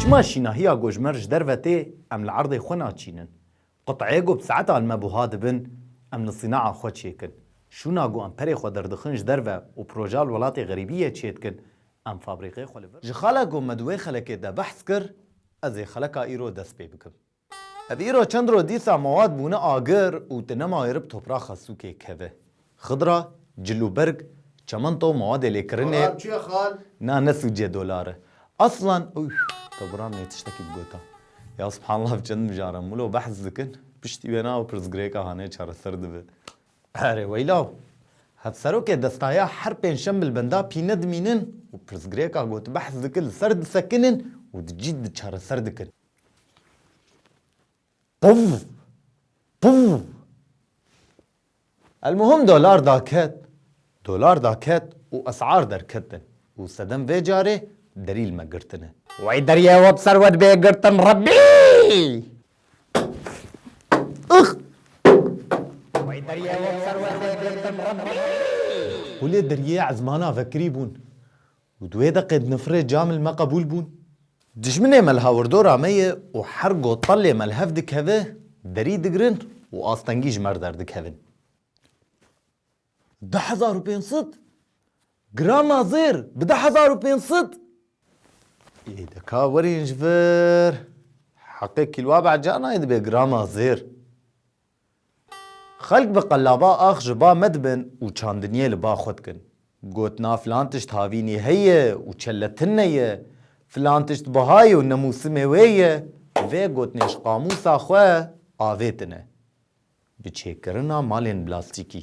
Çima şînahiya gojmer ji derve tê em li erdê xwe naçînin. Quteyê ku bi saeta li me buha dibin em li sînaha xwe çêkin. Şûna ku em perê xwe derdixin ji derve û proja li welatê xerîbiyê çêdikin em fabrîqê xwe li vir. Ji xala ku me di wê xelekê de behs kir, ez ê xeleka îro dest pê bikim. Ev îro çend roj dîsa mewad bûne agir û tu nema êrib topraxa sûkê keve. Xidra, cil û berg, çemento, mewadê lêkirinê, Xalan çi ye xal? Na ne sûcê dolar e. Aslan, Ûf, Tebran nê tiştekî bigota. Ya subhanallah ev çend mijar e. Mûlo behs dikin, piştî wê na ew pirsgirêka hanê çareser dibe. Erê weylaw, hevserokê destaya her pênc şem li benda pîne dimînin û pirsgirêka gotbehs dikin li ser disekinin û di cî di çareser dikin. Puv! Puv! Elmuhim dolar daket, dolar daket û esar derketin û sedem vê carê delîl me girtine. Wey deriyê we bi ser we dibe girtin Rebbî! Ix! Wey deriyê we bi ser we dibe girtin Rebbî! Holê deriyê ezmana vekirî bûn. Û di wê deqê di nifirê cam li me qebûl bûn. Dijminê me li hawirdora me ye û her go telê me li hev dikeve, derî digirin û astengî ji me re derdikevin. Di hezar û pênc sed? Girama zêr, bi di hezar û pênc sed? Ê de ka werîn ji vir. Heqê kîlwa behca nayê dibe girama zêr. Xelk bi qelaba ax ji ba me dibin û çandiniyê li ba xwe dikin. Gotina filan tişt havînî heye û çeletinne ye, filan tişt biha ye û ne mûsimê wê ye, vê gotinê ji qamûsa xwe avêtine. Bi çêkirina malên blastîkî,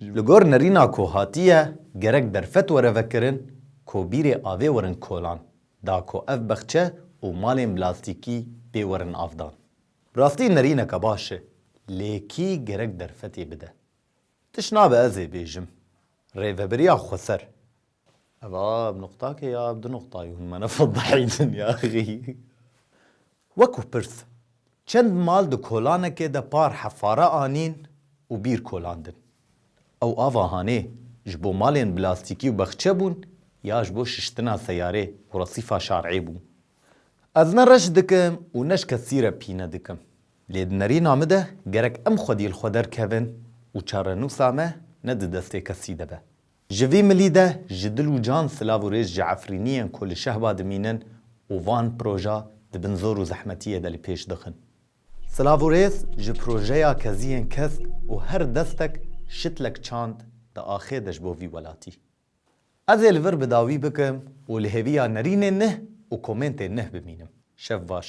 Li gor nerîna ku hatiye gerek derfet were vekirin ku bîrê avê werin kolan da ku ev bexçe û malên blastîkî pê werin avdan. Bi rastî nerîneke baş e lê kî gerek derfetê bide? Tişt nabe ez ê bêjim. Rêveberiya Xweser Ev a bi nuqtakê ya bi du nuqtayê hûn me nefedahîtin yaxî. Wekû pirs, çend mal di kolanekê de par hefare anîn û bîr kolandin. Ew ava hanê ji bo malên blastîkî û bexçe bûn ya ji bo şiştina seyarê û resîfa şarê bû. Ez ne reş dikim û ne ji kesî re pîne dikim. Lê di nerîna min de gerek em xwedî li xwe derkevin û çarenûsa me ne di destê kesî de be. Ji vî milî de ji dil û can silav û rêz ji efrîniyên ku li şehba dimînin û van proja di bin zor û zehmetiyê de li pêş dixin. Silav û rêz ji projeya keziyên kesk û her destek şitlek çand di axê de ji bo vî welatî. Ez ê li vir bi dawî bikim û li hêviya nerînên nih û komêntên nih bimînim. Şev baş.